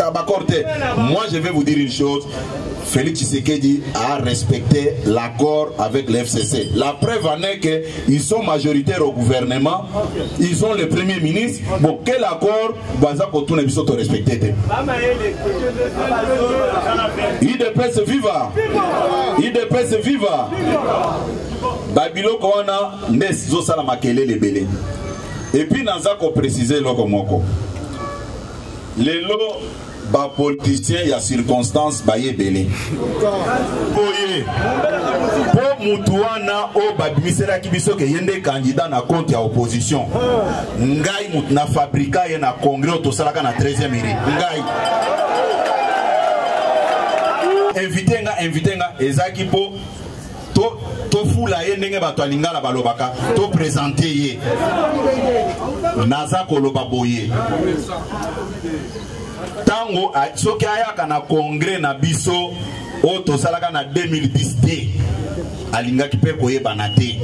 Tabacor te. Moi je vais vous dire une chose. Félix Tshisekedi a respecté l'accord avec le FCC. La preuve en est qu'ils sont majoritaires au gouvernement, ils ont le premier ministre. Bon, quel accord Baza Kotuna Biso te respecté IDPS viva IDPS viva Babiloko wana nde ezosala makelele ebele. Et puis naza ko préciser loko moko. lelo bapoliticien ya circonstance baye ebele boye mpo motu wana oyo babimiselaki biso ke ye nde kandida na konte ya opposition ngai motu na fabrika ye na congrès oyo tosalaka na 13e iri ngai invité nga invité nga ezalaki mpo to tofula ye ndenge bato ya lingala balobaka topresente ye naza koloba boye ntango soki ayaka na kongre na biso oyo tosalaka na 2010 te alingaki mpe koyebana te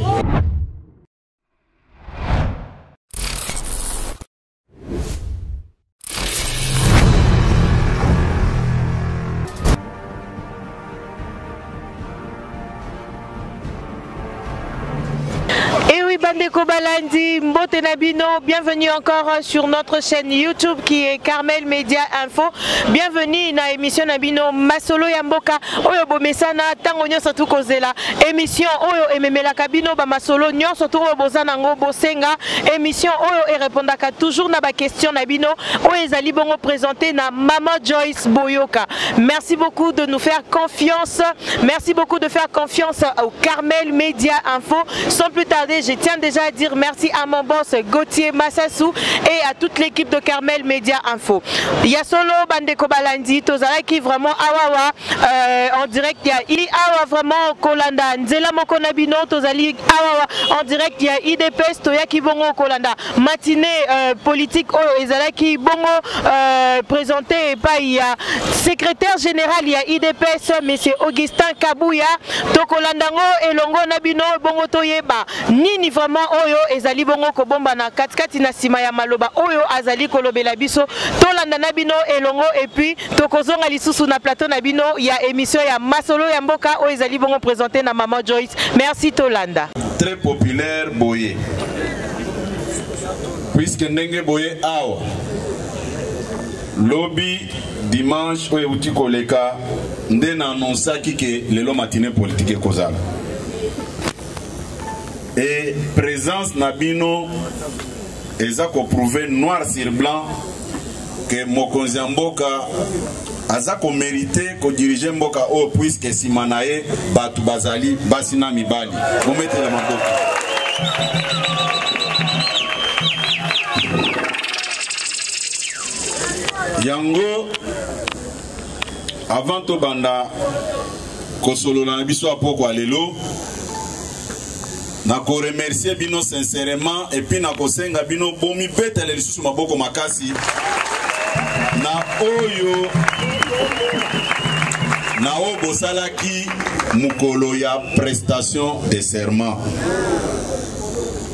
bandeko balandi mbote na bino bienvenue encore euh, sur notre chaîne youtube qui est carmel media info bienvenue na émission na bino masolo ya mboka oyo bomesana ntango nyonso tukozela émission oyo ememelaka bino bamasolo nyonso to oyo boza nango bosenga Emission oyo e repondaka toujours na ba questions na bino oyo ezali bongo présenter na Mama Joyce Boyoka. Merci beaucoup de nous faire confiance. Merci beaucoup de faire confiance au Carmel Media Info. Sans plus tarder, je tiens déjà à dire merci à mon boss Gauthier Massassou et à toute l'équipe de Carmel Media Info. Yasolo Bandeko Balandi, Tozalaki vraiment awawa. Euh, en direct ya i awa vraiment kolanda nzela moko na bino tozali awa en direct ya idps toyaki bongo kolanda matine euh, politique oyo ezalaki bongo euh, présente epai ya secrétaire général ya idps monsieur augustin kabuya tokolanda yango elongo na bino bongo toyeba nini vraiment oyo ezali bongo kobombana katikati na nsima ya maloba oyo azali kolobela biso tolanda na bino elongo epuis tokozonga lisusu na plateau na bino ya émission ya masolo ya mboka oyo ezali bongo présente na maman joyce merci tolanda très populaire boye puiske ndenge boye awa lobi dimanche oyo euti koleka nde na anonsaki ke lelo matine politike ekozala e présence na bino eza ko prouver noir sur blanc que mokonzi ya mboka aza komerite kodirige mboka oyo puiske nsima na ye bato bazali basi na mibali bometela maboko yango avant tobanda kosolola na biso ya pokwa lelo na ko remercier bino sincèrement et puis na kosenga bino bomibetele lisusu maboko makasi na oyo na oyo bosalaki mokolo ya prestation de serment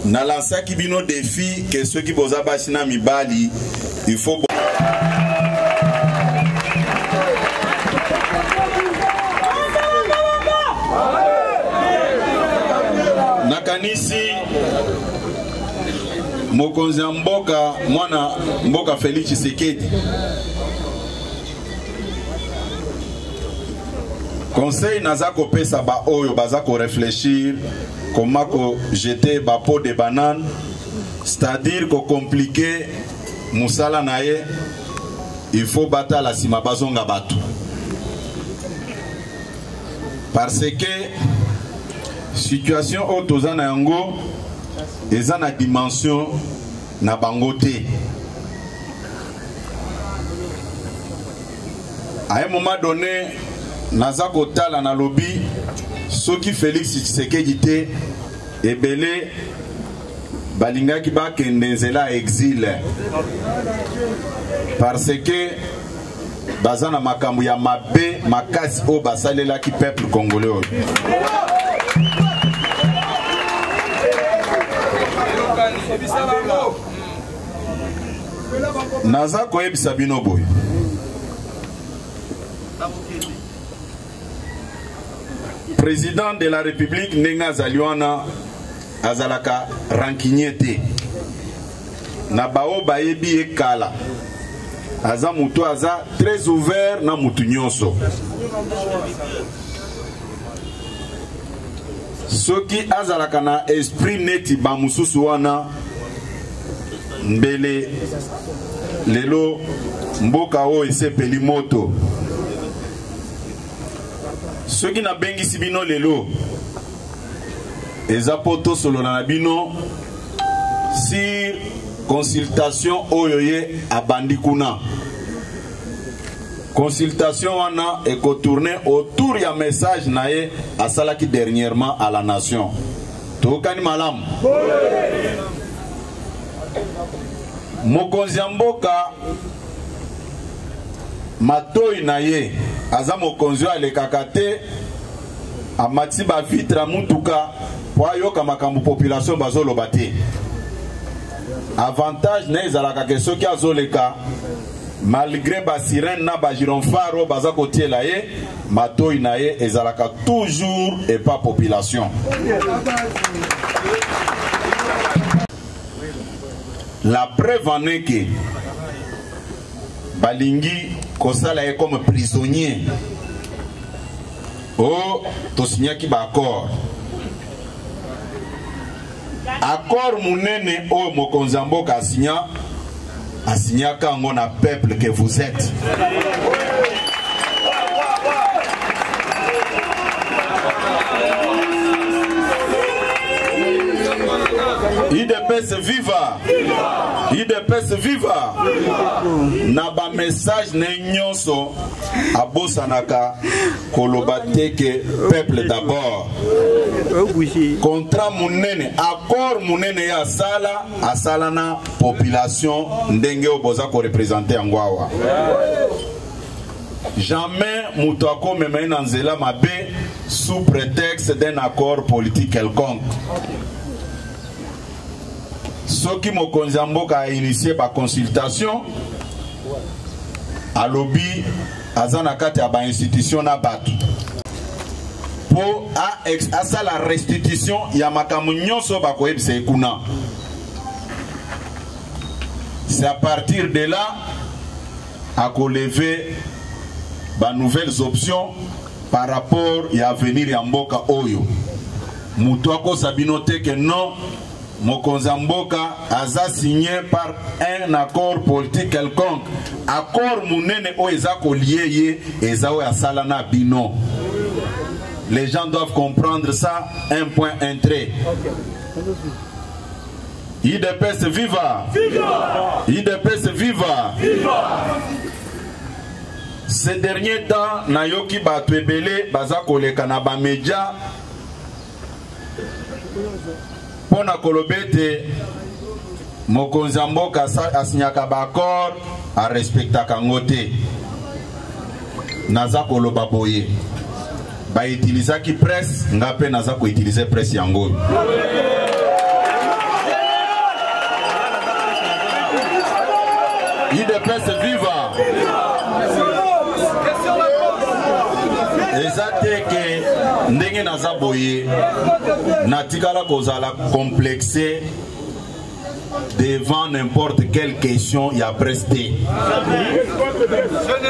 nalansaki bino defi ke soki boza basi na mibali Il faut nakanisi mokonzi ya mboka mwana mboka Felix Tshisekedi conseil naza kopesa baoyo baza koreflechir koma kojete bapo de banane c'est-à-dire ko compliquer musala na ye il faut batala nsima bazonga bato parce que situation oyo toza na yango eza na dimension na bango te à un moment donné naza kotala nalobi soki félix tshisekedi te ebele balingaki bakende nzela ya exile parce que baza na makambo ya mabe makasi oyo basalelaki peuple congolais oyo naza koyebisa bino boye président de la république ndenge azali wana azalaka rancunier te na baoyo bayebi ye kala aza moto aza très ouvert na moto nyonso soki azalaka na esprit neti bamosusu wana mbele lelo mboka oyo esepeli moto soki nabengisi bino lelo eza mpo tosolola na bino sur consultation oyo ye abandi kuna consultation wana ekotourne autour ya message na ye asalaki dernièrement à la nation toyokani malamu mokonzi ya mboka matoyi na ye aza mokonzi oyo alekaka te amati bavitre ya motuka mpo ayoka makambo population bazoloba te avantage na ye ezalaka ke soki azoleka malgré basirene na bagironfar oyo baza kotiela ye matoi na ye ezalaka toujours epa population la preuve en est que balingi kosala ye comme prisonnier o oh, tosignaki baaccord accord monene oyo mokonzi ya mboka asinya A signaka yango na peuple que vous êtes. IDPS viva! IDPS viva! Na ba message na nyonso abosanaka koloba te que peuple d'abord. Contrat munene, accord munene ya sala asala na population ndenge oyo boza korepresente yango awa jamais moto akomema ye na nzela mabe sous prétexte d'un accord politique quelconque soki mokonzi ya mboka ainitie baconsultation alobi aza na kati ya bainstitution na bato mpo asala restitution ya makambo nyonso bakoyebisa ye kuna c'est à partir de là à lever ba nouvelles options par rapport ya avenir ya mboka oyo moto akosa bino te ke non mokonzi ya mboka aza signe par un accord politique quelconque accord monene oyo eza kolie ye eza oyo asala na bino les gens doivent comprendre ça un point un trait okay. Idps viva! Viva! Idps viva! Viva! Ces derniers temps nayoki bato ebele baza koleka na bamedia mpo na koloba ete mokonzi ya mboka asinyaka baaccord arespectaka yango te naza koloba boye baitilizaki presse nga mpe naza koutilize presse yango oyo idps viva eza te ke ndenge naza boye natikala kozala complexe devant n'importe quelle question ya presse te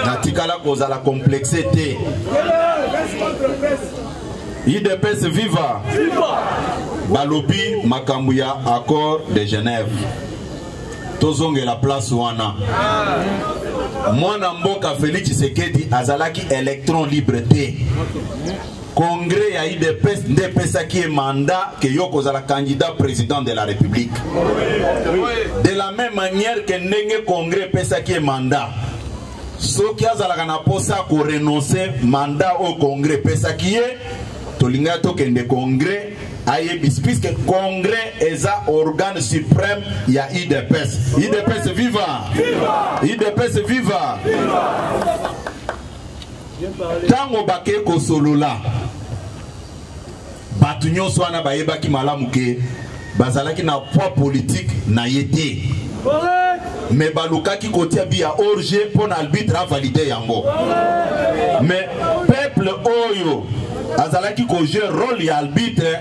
natikala kozala complexe te idps viva balobi makambo ya accord de genève tozongela place wana mwana mboka félix tshisekedi azalaki électron libre te Congrès ya IDPS nde epesaki ye mandat ke yo kozala candidat président de la République. De la même manière que ndenge Congrès epesaki ye mandat soki azalaka na mposa korenonce mandat oyo Congrès epesaki ye tolingaki tokende Congrès ayebisi puisque Congrès eza organe suprême ya IDPS. IDPS viva! IDPS viva! viva! ntango bakei kosolola bato nyonso wana bayebaki malamu ke bazalaki na poids politique na ye te me balukaki kotia bi ya orge mpo na albitre avalide yango me peuple oyo azalaki kojue role ya albitre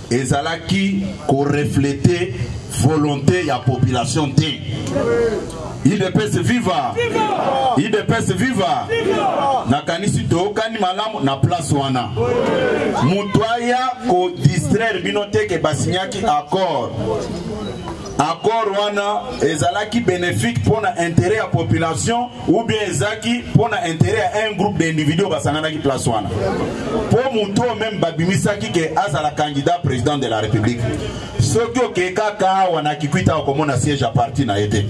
ezalaki ko refleter volonté ya population te idps viva idps viva nakanisi toyokani malamu na place wana moto aya kodistraire bino te ke basinyaki accord accord wana ezalaki bénéfique mpo na intérêt ya population ou bien ezaki mpo na intérêt ya un groupe d'individu oyo basanganaki place wana mpo moto oyo meme babimisaki ke azala candidat président de la république soki okei kaka awa na kikwita okomona siège ya parti na ye te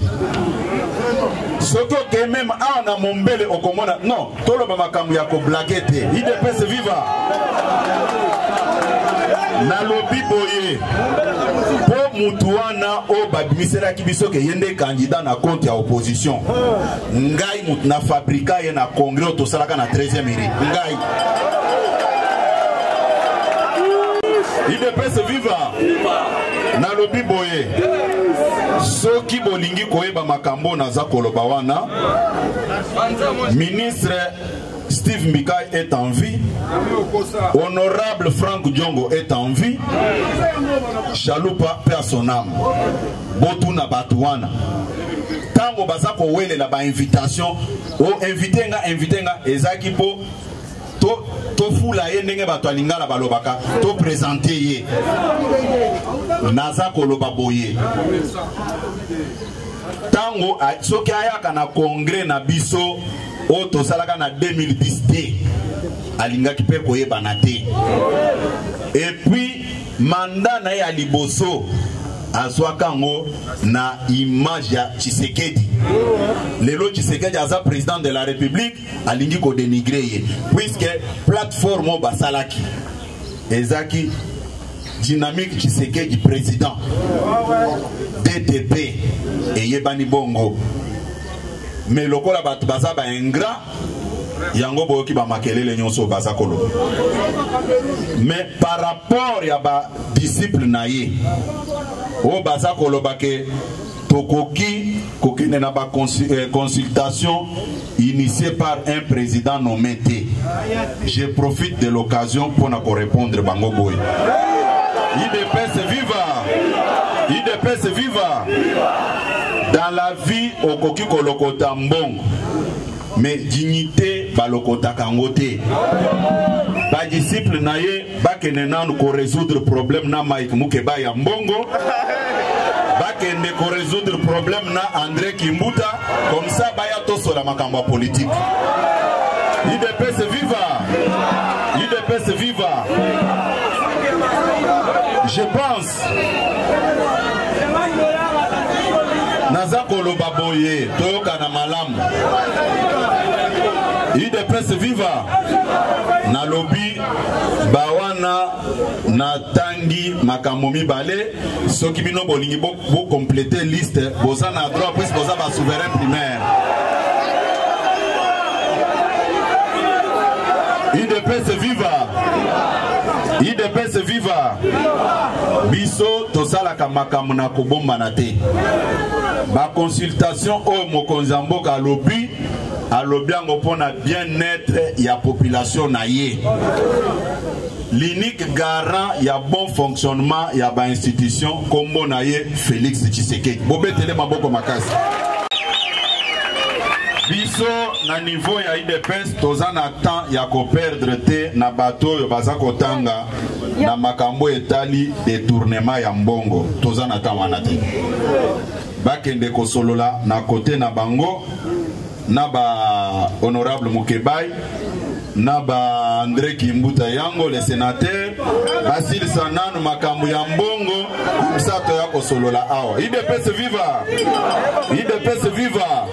soki okei meme awa na mombele okomona non toloba makambo ya koblake te idps viva nalobi boye mpo motu wana wana oyo babimiselaki biso ke ye nde candidat na compte ya opposition ngai moto na fabrika ye na congrès oyo tosalaka na 13e iri ngai idps viva nalobi boye soki bolingi koyeba makambo naza koloba wana ministre Steve Mbikai est en vie. Honorable Frank Djongo est en vie. Chalupa perd son âme. Botuna Batouana. Tango baza ko wele la ba invitation. Oh, invité nga, invité nga. Ezaki po to tofula ye ndenge bato ya lingala balobaka topresente ye naza koloba boye ntango soki ayaka na kongre na biso oyo tosalaka na 2010 te alingaki mpe koyebana te epuis manda na ye ya liboso azwaka yango na image ya tshisekedi lelo tshisekedi aza président de la république alingi kodenigre ye puiske plateforme oyo basalaki ezaki dynamique tshisekedi président ddp eyebani bongo mais lokola bato baza baingra yango boyoki bamakelele nyonso oyo baza koloba mais par rapport ya badisciple na ye oyo baza koloba ke tokoki kokende na ba euh, consultation initié par un président nommé te je profite de l'occasion mpo na korépondre bango boye idps viva idps viva dans la vie okoki kolokota mbongo mais dignité balokotaka yango te badisciple na ye bakende nanu koresoudre problème na mike mukeba ya mbongo bakende koresoudre problème na andré kimbuta comme ça baya tosola makambo ya politike idps viva idps viva je pense naza koloba boye toyokana malamu udps viva nalobi bawana natangi makambo mibale soki bino bolingi bokomplete bo liste boza na droit puisque boza basouverain primaire idps viva idps viva biso tosalaka makambo na kobombana te baconsultation oyo mokonzi ya mboka alobi alobi yango mpo na bien-être ya population na ye L'unique garant ya bon fonctionnement ya ba institutions kombo na ye Felix Tshisekedi. Bobetele maboko makasi. biso na niveau ya udps toza na temps ya koperdre te na bato oyo baza kotanga na makambo etali detournement ya mbongo toza na temps wana te bakende kosolola na kote na bango na ba honorable Mukebayi na ba Andre Kimbuta yango le senateur basilisa nanu makambo ya mbongo msa toya kosolola awa idps viva idps viva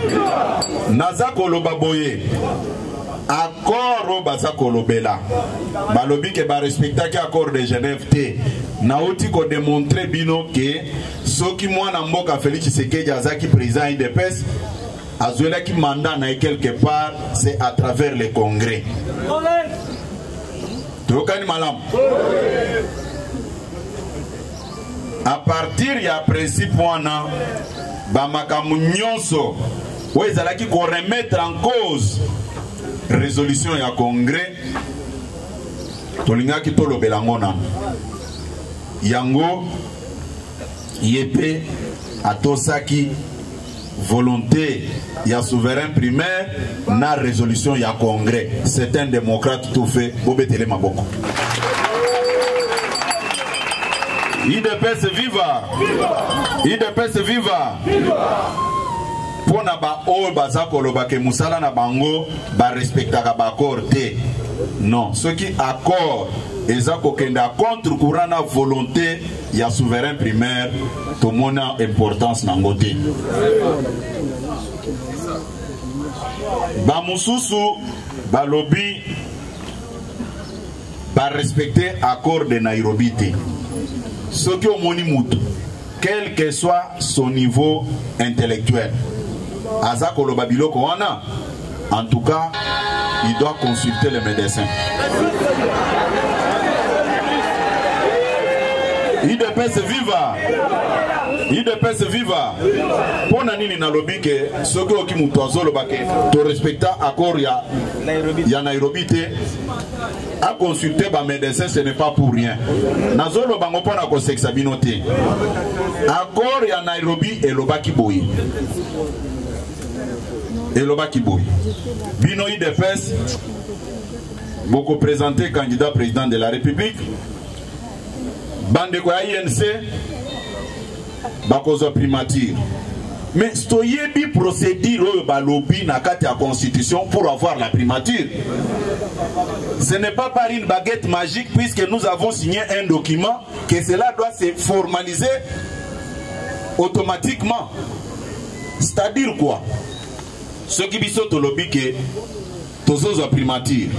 naza koloba boye accord oyo baza kolobela balobi ke barespectaki accord de genève te nauti kodemontre bino ke soki mwana mboka felix tshisekedi azalaki président idps azwelaki mandat na ye quelque part c'est à travers le congrès toyokani malamu à partir ya principe wana bamakambo nyonso oyo ezalaki koremettre en cause résolution ya congrès tolingaki tolobela yango nano yango ye mpe atosaki volonté ya souverain primaire na résolution ya congrès c'est un démocrate tout fait bobetele maboko idps viva idps viva mpo na baoyo baza koloba ke mosala na bango barespektaka baaccord te non soki accord eza kokenda contre courant na volonté ya souverain primaire tomona importance na yango te bamosusu balobi barespecte accord de nairobi te soki omoni motu quel que soit son niveau intellectuel aza koloba biloko wana En tout cas, il doit consulter les médecins. idps viva idps viva mpo na nini nalobi ke soki oki moto azoloba ke torespecta accord ya, ya nairobi te aconsulte bamédecin ce n'est pas pour rien nazoloba yango mpo na kosekisa bino te accord ya nairobi elobaki boye elobaki boye bino idps bokopresente candidat président de la république bandeko ya inc bakozwa primature mais toyebi procédure oyo balobi na kati ya constitution pour avoir la primature ce n'est pas par une baguette magique puisque nous avons signé un document que cela doit se formaliser automatiquement c'est-à-dire quoi soki biso tolobi ke tozozwa primature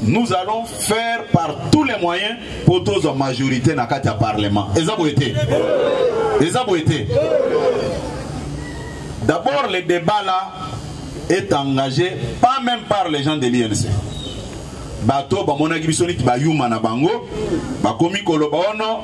nous allons faire par tous les moyens mpo tozwa majorité na kati ya parlement eza boye te eza boye te d'abord le débat là est engagé pas même par les gens de l'INC bato bamonaki biso neti bayuma na bango bakomi koloba ono oh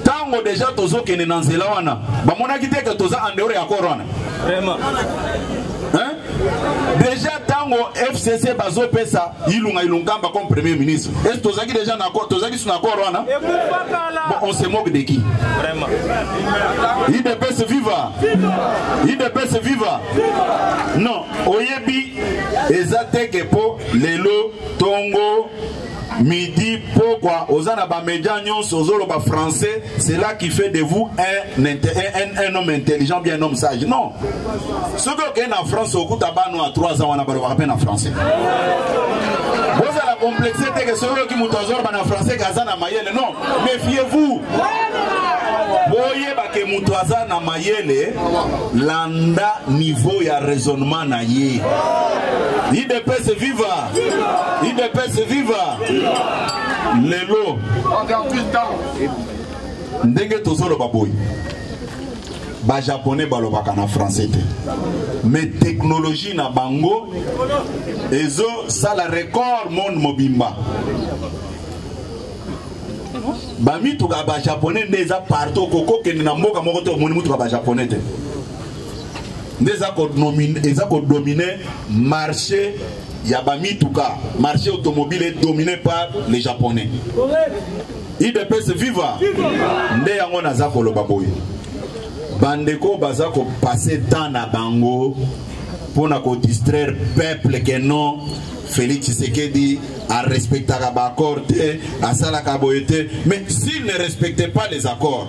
ntango deja tozokende na nzela wana bamonaki te ke toza andeore ya kor wana deja ntango fcc bazopesa ilunga ilunkamba comme premier ministre esi tozalaki deja na accord tozalaki su na accord wana bon, on se moque de qui idps viva idps viva non oyebi eza teke mpo lelo tongo midi pokwa oza na bamedia nyonso ozoloba français cela qui fait de vous un, un, un homme intelligent bien un homme sage non soki okei na france okuta bano a 3 ans wana balobaka mpe na français bozala complexe te ke soki oyoki moto azoloba na français ke aza na mayele non méfiez vous boyeba ke moto aza na mayele landa niveau ya raisonnement na ye idps viva idps viva lelo ndenge tozoloba boye bajapone balobaka na français te mais technologie na bango ezosala record monde mobimba bamituka bajapone nde eza partout okokokende na mboka moko te omoni motuka bajapone te nde eza kodomine marché ya bamituka marché automobile est dominé par les japonais idps viva nde yango naza koloba boye bandeko baza kopase temps na bango mpo na kodistraire peuple ke non félix tshisekedi arespectaka baaccord te asalaka boye te mais s'il ne respecte pas les accords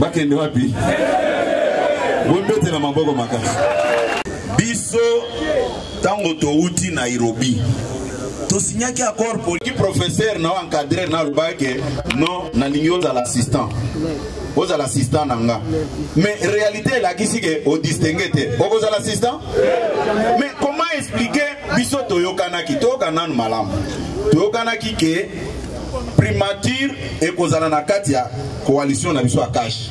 bakende wapi bobetela maboko makasi biso ntango towuti nairobi tosignaki accord poliki professeur na encadrer na alobaki ke non nalingi ozala assistant ozala assistant na nga mais réalité elakisi ke odistingue te okozala assistant mais comment expliquer biso toyokanaki toyoka nanu malamu toyokanaki ke primature ekozala na kati ya coalition na biso ya cash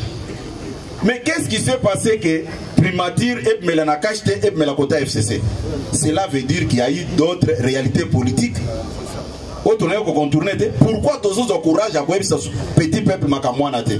mais qu'est-ce qui s'est passé que primature ebmela na cash te ebmela kota fcc cela veut dire qu'il y a eu d'autres réalités politiques oyo tonaye kocontourne te pourquoi tozozwa courage ya koyebisa petit peuple makamwana te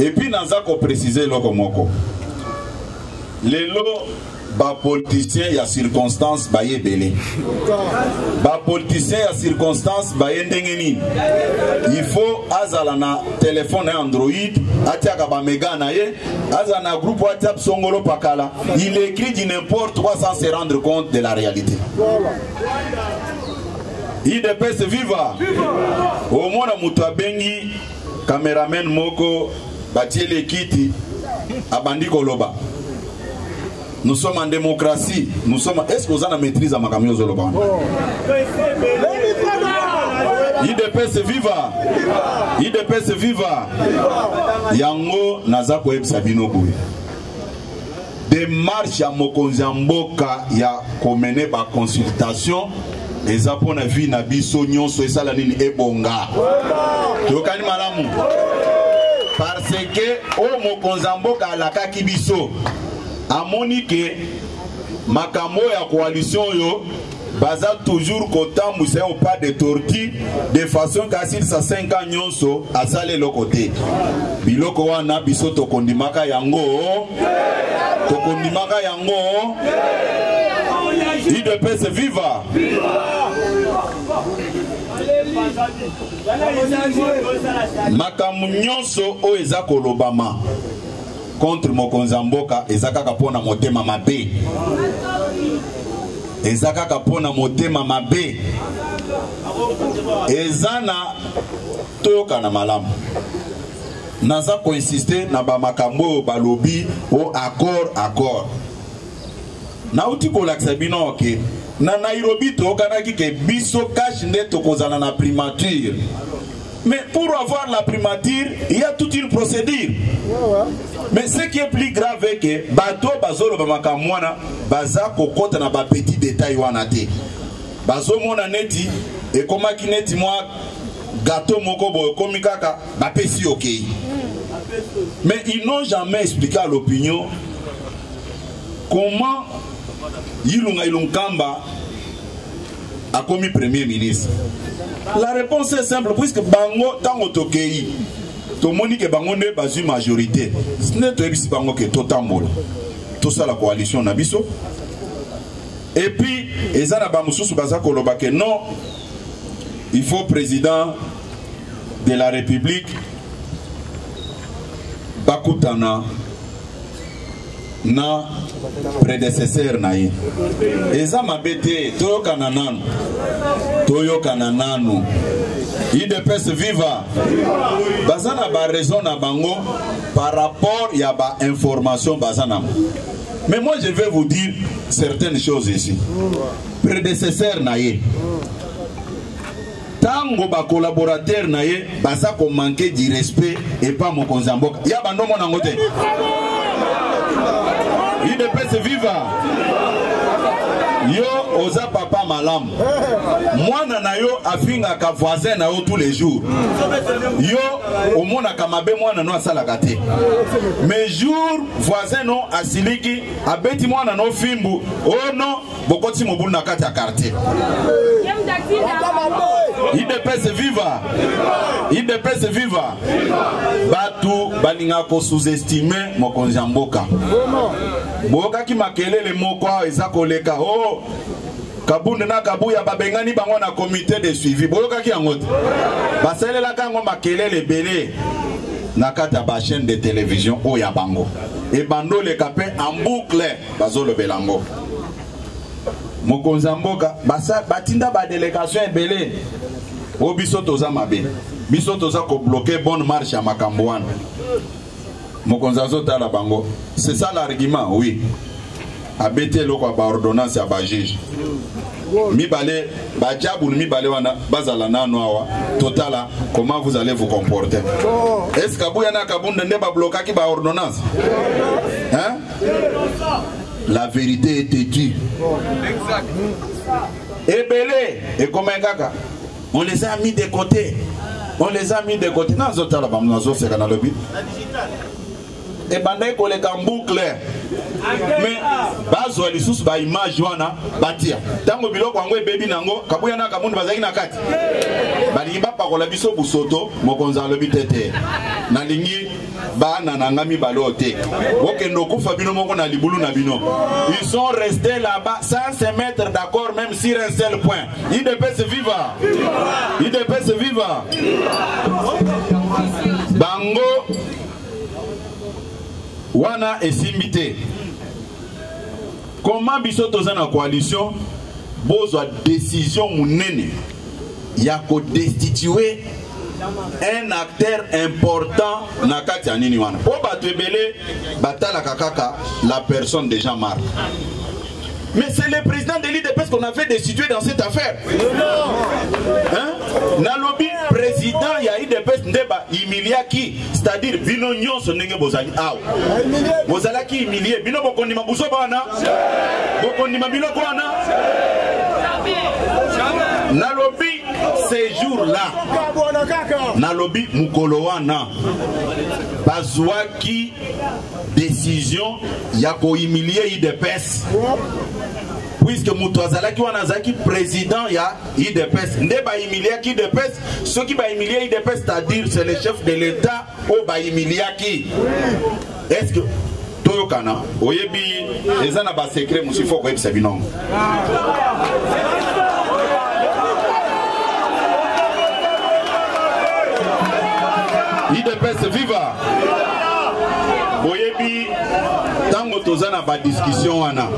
epuis naza koprecise eloko moko lelo bapoliticien ya circonstance baye ebele bapoliticien ya circonstance baye ndenge nini il faut azala na telefone ya android atiaka bamega na ye azala na groupe whatsapp songolo pakala il écrit du n'importe quoi sans se rendre compte de la réalité idps viva omona moto abengi cameraman moko batieli ekiti abandi koloba nous sommes en démocratie nous sommes est ce que oza na maîtrise ya makambo yo ozoloba wana idps viva idps viva yango naza koyebisa bino boye demarche ya mokonzi ya mboka ya komene baconsultation eza mpo na vie na biso nyonso esala nini ebonga toyokani malamu parce que oyo mokonzi ya mboka alakaki biso amoni ke makambo ya koalition oyo baza toujours kotambwisa yo pas de torti de façon ke asilisa 5 ans nyonso asala eloko te biloko wana biso tokondimaka yango tokondimaka yango idps viva, viva! makambo nyonso oyo eza kolobama contre mokonzi ya mboka eza kaka mpo na motema mabe eza kaka mpo na motema mabe eza na toyokana malamu naza koinsiste na bamakambo oyo balobi o accord accord nauti kolakisa bino oke na nairobi toyokanaki ke biso kashe nde tokozala na primature Mais pour avoir la primature, il y a toute une procédure. Mais ce qui est plus grave est que bato bazolo bamakamwana baza kokota na ba petit détail wana te. Bazomona neti ekomaki neti mwa gato moko boye ekomi kaka bapesi okei. Mais ils n'ont jamais expliqué à l'opinion comment Yilunga Ilunkamba akomi premier ministre la réponse est simple puisque bango ntango tokei tomoni ke bango nde bazwi majorité nde toyebisi bango ke totambola tosala coalition na biso epuis eza na bamosusu baza koloba ke non il faut président de la république bakutana na predecesseur na ye eza mabe te toyokana nanu toyokana nanu idps viva baza na baraison na bango par rapport ya bainformation baza nango mais moi je vais vous dire certaines choses ici predecesseur na ye tango ba collaborateur na ye baza ko manquer du respect epa mokonzi ya mboka ya bando omona yango te idps viva yo oza papa malamu mwana na yo afingaka voisin na yo tous les jours yo omonaka mabe mwana no asalaka te mais jour voisin no asiliki abeti mwana no fimbu o oh non bokoti mobulu na kati ya quartier idps viva idps viva bato balingaka kosuzestime mokonzi ya mboka boyokaki makelele moko awa eza koleka o oh, kabunde na kabuya babengani bango na komite de suivi boyokaki yango te basalelaka yango makelele ebele na kati ya bachaîne de télévision oyo ya bango ebandoleka mpe en boucle bazolobela yango mokonzi ya mboka batinda badelegation ebele o biso toza mabe biso toza kobloke bonne marche ya makambo wana mokonzi azotala bango c'est ça l'argument oui abeti eloko ya baordonnance ya bajuge mibale bajabulu mibale wana bazala nano awa totala comment vous allez vous comporter est ce kabuya na kabunda nde bablokaki baordonnance hein? la vérité est têtue ebele ekomai kaka on les a mis de côté on les a mis de côté nazotala bango nazoseka nalobi ebandaki koleka mboucle me bazwa lisusu baimage wana batia ntango biloko yango ebebi na yango kabuya na kamundi bazalaki na kati balingi bapakola biso busoto mokonzi alobi te te nalingi bana na nga mibale oyo te bokende okufa bino moko na libulu na bino ils sont restés là-bas sans se mettre d'accord même sur un seul point idps viva idps viva bango wana esimbi te Comment biso toza na coalition bozwa decision munene ya ko destituer un acteur important na kati ya nini wana mpo bato ebele batalaka kaka la personne de jean marc mais c'est le président de l'idps qu'on avait destitué dans cette affaire hein? nalobi président ya idps nde bahumiliaki c'est-à-dire bino nyonso ndenge bozali awa bozalaki humilie bino bokondima buzoba wana bokondima biloko wana nalobi sejour la nalobi mokolo wana bazwaki décision ya kohumilie idps puisque moto azalaki wana azalaki président ya idps nde bahimiliaki idps soki bahimilie idps c'est-à-dire c'est le chef de l'état oyo bahimiliaki est ce que toyokana oyebi eza na basecret mosusu ifo koyebisa binongo idps viva oyebi ntango toza na badiskussion wana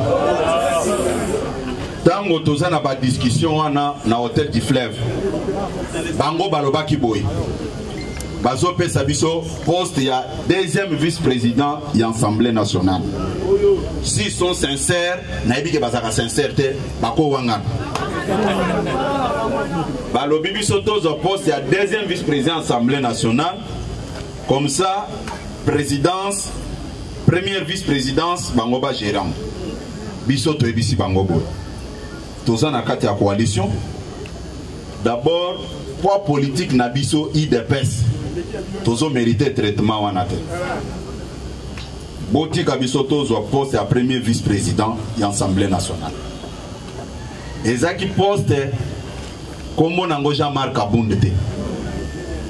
ntango toza na badiskussion wana na hotel du fleuve bango balobaki boye bazopesa biso poste ya deuxième vice président ya assemblée nationale si sont sincère nayebi ke bazalaka sincère te bakowangana balobi biso tozwa poste ya deuxième vice président assemblée nationale comme ça présidence première vice présidence bango bagérant biso toyebisi bango boye toza na kati ya coalition d'abord poids politique na biso idps tozo mérite traitement wana te botika biso tozwa poste ya premier vice président ya assemblée nationale ezalaki poste nkombo nango jean marc abunde te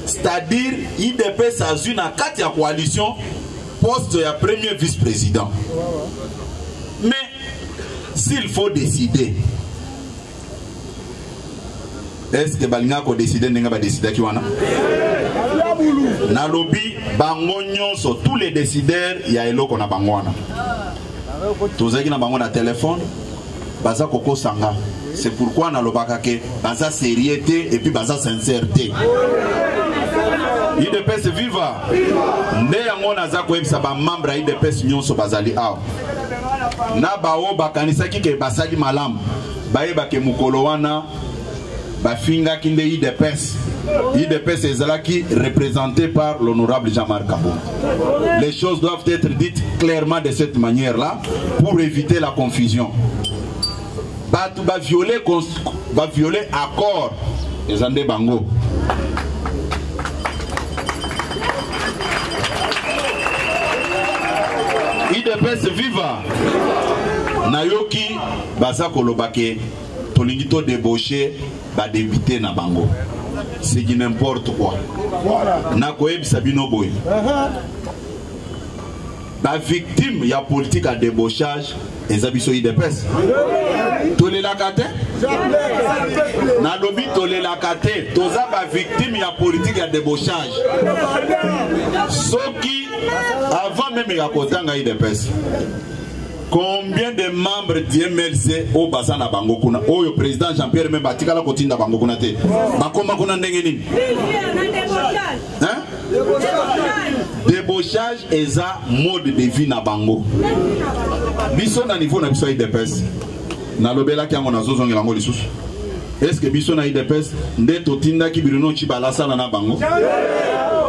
c'est-à-dire idps azwi na kati ya coalition poste ya premier vice président mais s'il faut décider est ce que balingaka kodeside ndenge badesidaki wana nalobi bango nyonso tous les décideurs ya eloko na bango wana tozalaki na bango na telefone baza kokosa nga c'est pourquoi nalobaka ke baza sérieux te et puis baza sincère te idps viva nde yango naza koyebisa bamembre ya idps nyonso bazali awa na baoyo bakanisaki ke basali malamu bayebake mokolo wana bafingaki nde idps idps ezalaki représentée par l'honorable jean-marc kabongo les choses doivent être dites clairement de cette manière là pour éviter la confusion bato baviole baviole accord eza nde bango idps viva nayoki baza koloba ke tolingi to debauche ba député na bango c'est du n'importe quoi nakoyebisa bino boye bavictime ya politike ya debauchage eza biso idps tolelaka te nalobi tolelaka te toza bavictime ya politike ya debauchage soki avant meme ya kotanga idps combien de membres du mlc oyo baza na bango kuna oyo président jean pierre meme atikala kotinda bango kuna te bakoma kuna ndenge nini debauchage eza mode de vie na bango biso na niveau na biso ya idps nalobelaki yango nazozongela yango lisusu est ce que biso na idps nde totindaki bruno cibala asala na bango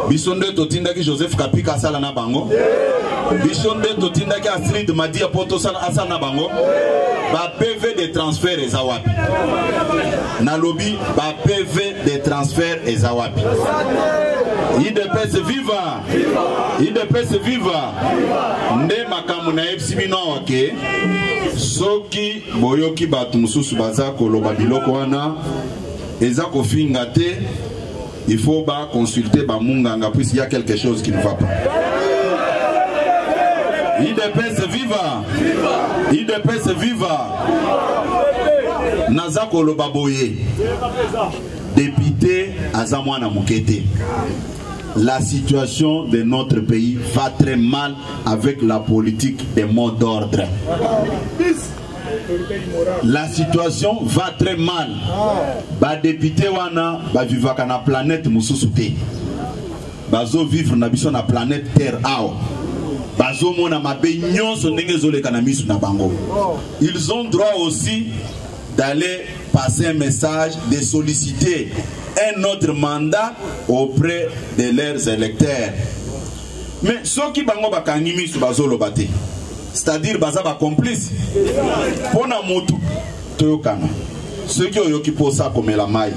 biso nde totindaki joseph kapika asala na bango biso nde totindaki astrid madia mpo tosala asala na bango ba pv de transfert eza wapi nalobi ba pv de transfert eza wapi idps viva idps viva nde makambo nayebisi bino awa ke soki boyoki bato mosusu baza koloba biloko wana eza kofinga te il faut ba consulter ba munganga puisqu'il y a quelque chose qui ne va pas idps viva idps viva naza koloba boye depute aza mwana moke te La situation de notre pays va très mal avec la politique des mots d'ordre. La situation va très mal. Ba député wana ba vivaka na planète mususu te. Bazo vivre na biso na planète Terre awa. Bazo mona mabe nyonso ndenge ezoleka na misu na bango. Ils ont droit aussi d'aller passer un message de solliciter un autre mandat auprès de leurs électeurs mais soki bango bakangi miso bazoloba te c'est-à-dire baza bacomplice mpo na motu toyokana soki oyoki mposa komela mai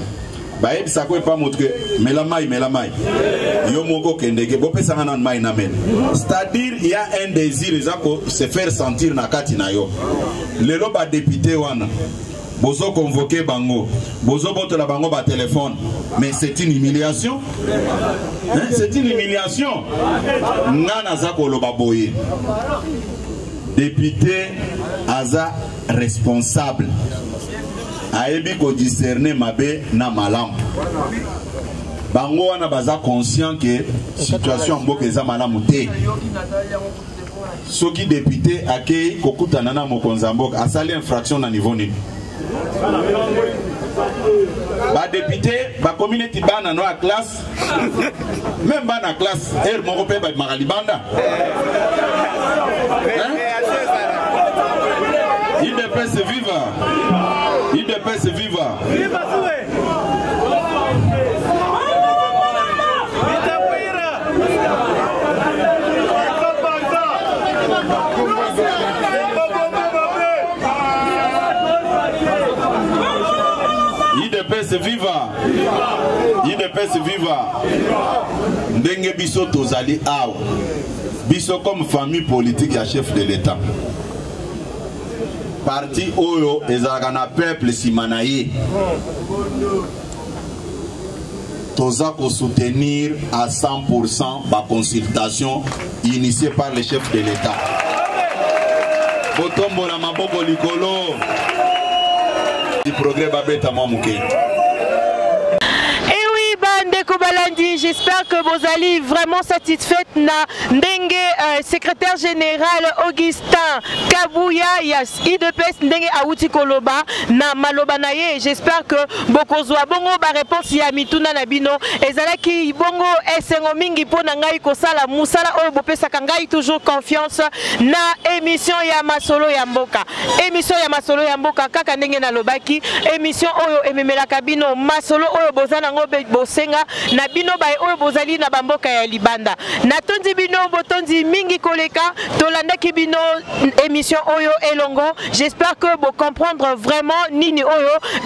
bayebisa ko epa moto ke mela mai mela mai yo moko kendeke bopesanga nanu mai na mela c'est-à-dire il y a un désir eza ko se faire sentir na kati na yo lelo badepute wana bozo convoke bango bozo botola bango ba téléphone mais c'est une humiliation hein? c'est une humiliation nga naza koloba boye député aza responsable ayebi ko discerner mabe na malamu bango wana baza conscient que situation ya mboka eza malamu te soki depute akei kokutana na mokonzi ya mboka asali infraction na niveau nini badepute bakomi neti bana no ya classe meme bana classe ere moko mpe babimaka libanda idps viva idps viva idps viva idps viva ndenge biso tozali awa biso comme famille politique ya chef de l'état parti oyo ezalaka na peuple nsima na ye toza kosoutenir à 100 baconsultation initié par le chef de l'État. botombola maboko likolo progrès babeta mwa moke j'espère que vous allez vraiment satisfaite na ndenge euh, secrétaire général Augustin Kabuya ya idps ndenge awuti koloba na maloba na ye j'espère que bokozwa bongo bareponse ya mituna na bino ezalaki bongo esengo mingi mpo na ngai kosala mosala oyo bopesaka ngai toujours confiance na émission ya masolo ya mboka émission ya masolo ya mboka kaka ndenge nalobaki émission oyo ememelaka bino masolo oyo boza nango bosenga na bino baye oyo bozali na bamboka ya libanda natondi bino botondi mingi koleka tolandaki bino émission oyo elongo j'espère que vous comprendre vraiment nini oyo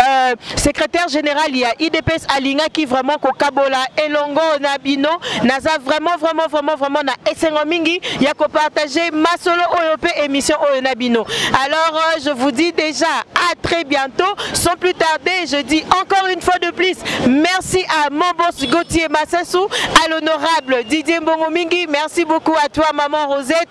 euh, secrétaire général ya idps qui vraiment kokabola elongo na bino naza vraiment vraiment vraiment vraiment na esengo mingi ya partager masolo oyo pe émission oyo na bino alors euh, je vous dis déjà à très bientôt sans plus tarder je dis encore une fois de plus merci à mon boss Gauthier Massassou à l'honorable Didier Mbongo Mingi merci beaucoup à toi maman Rosette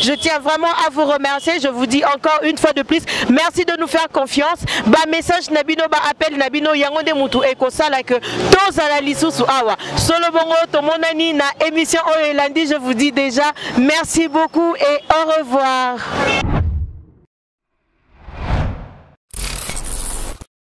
Je tiens vraiment à vous remercier. Je vous dis encore une fois de plus, merci de nous faire confiance. Ba message nabino, ba appel nabino, yango de mutu eko sala que tous à la lisusu awa. Solo bongo to monani na émission oyo elandi. Je vous dis déjà merci beaucoup et au revoir.